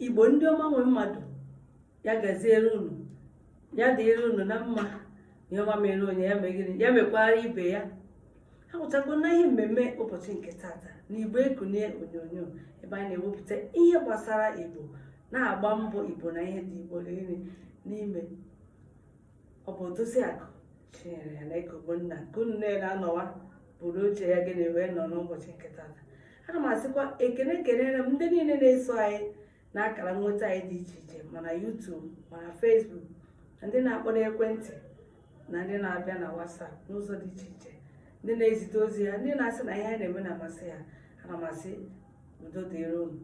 igbo ndị ọma nwe mmadụ ya gaziere unu ya dịrị unu na mma ihe ọma mere onye ya mee gịnị ya mekwara ibe ya ha nwụchakwa na ihe mmemme ụbọchị nke tata na igbo ekunie onyonyo ebe anyị na-ewepụta ihe gbasara igbo na-agba mbọ igbo na ihe dị igbo niile n'ime ọ bụ Odoziakụ Chinyere Nneka Ogbonna nke unu niile anọwa buru oche ya gịnị wee nọ n'ụbọchị nke tata ana m asịkwa ekene ekenere m ndị niile na-eso anyị na akara nweta anyị dị iche iche ma na YouTube ma na Facebook na ndị na-akpọ n'ekwentị na ndị na-abịa na WhatsApp n'ụzọ dị iche iche ndị na-ezite ozi ha ndị na-asị na ihe anyị na-eme na-amasị ha ana m asị udo dịrị unu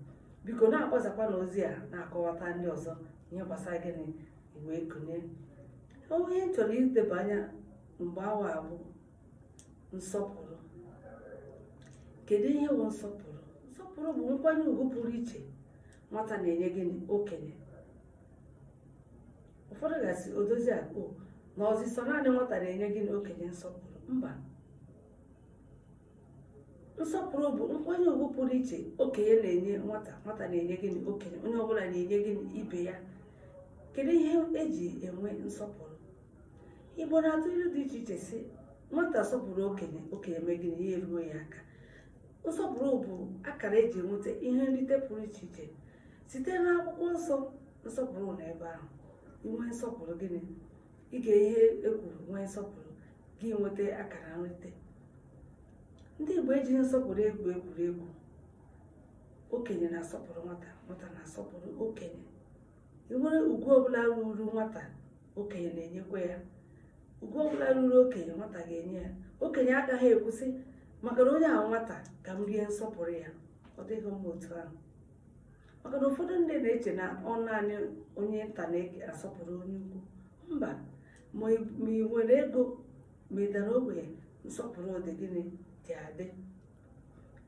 biko na-akpọsakwa na ozi a na-akọwata ndị ọzọ ihe gbasara gịnị Igbo ekunie ihe m chọrọ ileba anya mgbe awa a bụ nsọpụrụ kedu ihe bụ nsọpụrụ nsọpụrụ bụ nkwanye ugwu pụrụ iche nwata na-enye gịnị okenye ụfọdụ ga-asị Odoziakụ na ọ zị sọ naanị nwata na-enye gịnị okenye nsọpụrụ mba nsọpụrụ bụ nkwanye ugwu pụrụ iche okenye na-enye nwata nwata na-enye gịnị okenye onye ọbụla na-enye gịnị ibe ya kedu ihe eji enwe nsọpụrụ igbo na-atụ ilu dị iche iche si nwata sọpụrụ okenye okenye mee gịnị ya eruo ya aka nsọpụrụ bụ akara eji enweta ihe nrite pụrụ iche iche site n'akwụkwọ nsọ nsọpụrụ nọ na ebe ahụ inwe nsọpụrụ gịnị ige ihe e kwuru nwee nsọpụrụ gị enweta akara nrite ndị Igbo ejighị nsọpụrụ egwu egwuregwu okenye na-asọpụrụ nwata nwata na-asọpụrụ okenye enwere ugwu ọbụla ruru nwata okenye na-enyekwa ya ugwu ọbụla ruru okenye nwata ga-enye ya okenye agaghị ekwu sị maka na onye a bụ nwata ka m rie nsọpụrụ ya ọ dịghị mma otu ahụ maka na ụfọdụ ndị na-eche na ọ naanị onye nta na-asọpụrụ onye ukwu mba ma ị nwere ego ma ị dara ogbenye nsọpụrụ dị gịnị dị adị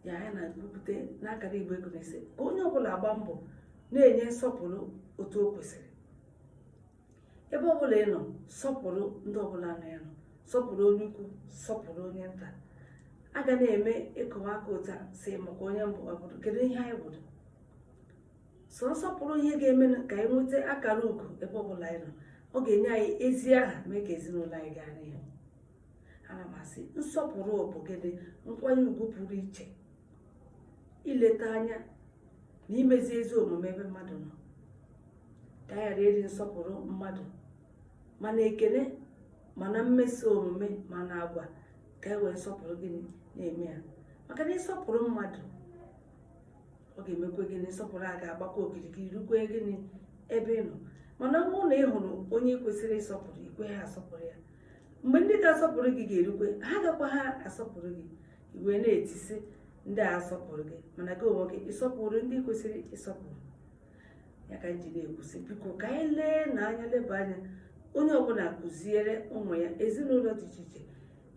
ya anyị na-ekwupụta n'akara igbo ekunie sị ka onye ọbụla gbaa mbọ na-enye nsọpụrụ otu o kwesịrị ebe ọbụla ị nọ sọpụrụ ndị ọbụla nọ ya nọ sọpụrụ onye ukwu sọpụrụ onye nta a ga na-eme ịkọwaka ụta sị maka onye m bụ ọ bụrụ kedu ihe anyị bụrụ sọ nsọpụrụ ihe ga-eme ka anyị nweta akara ugo ebe ọbụla anyị nọ ọ ga-enye anyị ezi aha mee ka ezinụlọ anyị gaa n'ihu ana m asị nsọpụrụ bụ gịnị nkwanye ugwu pụrụ iche ileta anya na imezi ezi omume ebe mmadụ nọ ka a ghara iri nsọpụrụ mmadụ ma na ekele ma na mmeso omume ma na agwa ka e wee nsọpụrụ gịnị na-eme ya maka na ị sọpụrụ mmadụ ọ ga-emekwa gịnị nsọpụrụ a ga-agbakwa okirikiri rukwe gịnị ebe ị nọ mana ọ bụrụ na ị hụrụ onye i kwesịrị ịsọpụrụ i kweha asọpụrụ ya mgbe ndị ga-asọpụrụ gị ga-erukwe ha agakwaha asọpụrụ gị i wee na-eti sị ndị a sọpụrụ gị mana gị onwe gị ị sọpụrụ ndị i kwesịrị ịsọpụrụ ya ka m ji na-ekwu sị biko ka anyị lee na anya leba anya onye ọbụla kụziere ụmụ ya ezinụlọ dị iche iche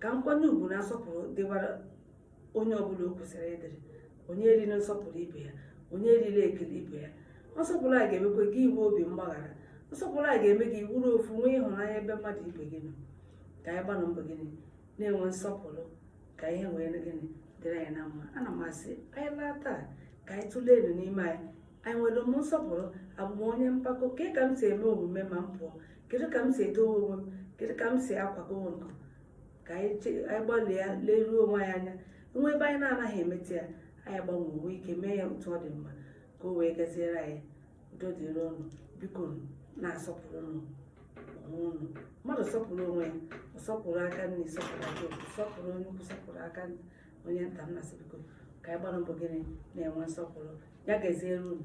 ka nkwanye ugwu na nsọpụrụ dịwara onye ọbụla o kwesịrị ịdịrị onye erila nsọpụrụ ibe ya onye erila ekele ibe ya nsọpụrụ a ga-emekwa gị i nwee obi mgbaghara nsọpụrụ a ga-eme gị ị wụrụ ofu nwee ịhụnanya ebe mmadụ ibe gị nọ ka anyị gbanụ mbọ gịnị na-enwe nsọpụrụ ka ihe wee gịnị dịrị anyị na mma ana m asị anyị laa taa ka anyị tụleenụ n'ime anyị enwere m nsọpụrụ abụ m onye mpako kee ka m si eme omume ma m pụọ kedu ka m si edowe onwe m kedu ka m si akwado onwe m ka anyị gbalịa leruo onwe anyị anya e nwee ebe anyị na-anaghị emeta ya anyị agbanwee nwee ike mee ya otu ọ dị mma ka o wee gaziere anyị udo dịrị unu bikonu na-asọpụrụnụ onwe unu mmadụ sọpụrụ onwe ya ọ sọpụrụ aka nni sọpụrụ aka ekpe sọpụrụ onye ukwu sọpụrụ aka onye nta m na-asị biko ka anyị gbanụ mbọ gịnị na-enwe nsọpụrụ ya gaziere unu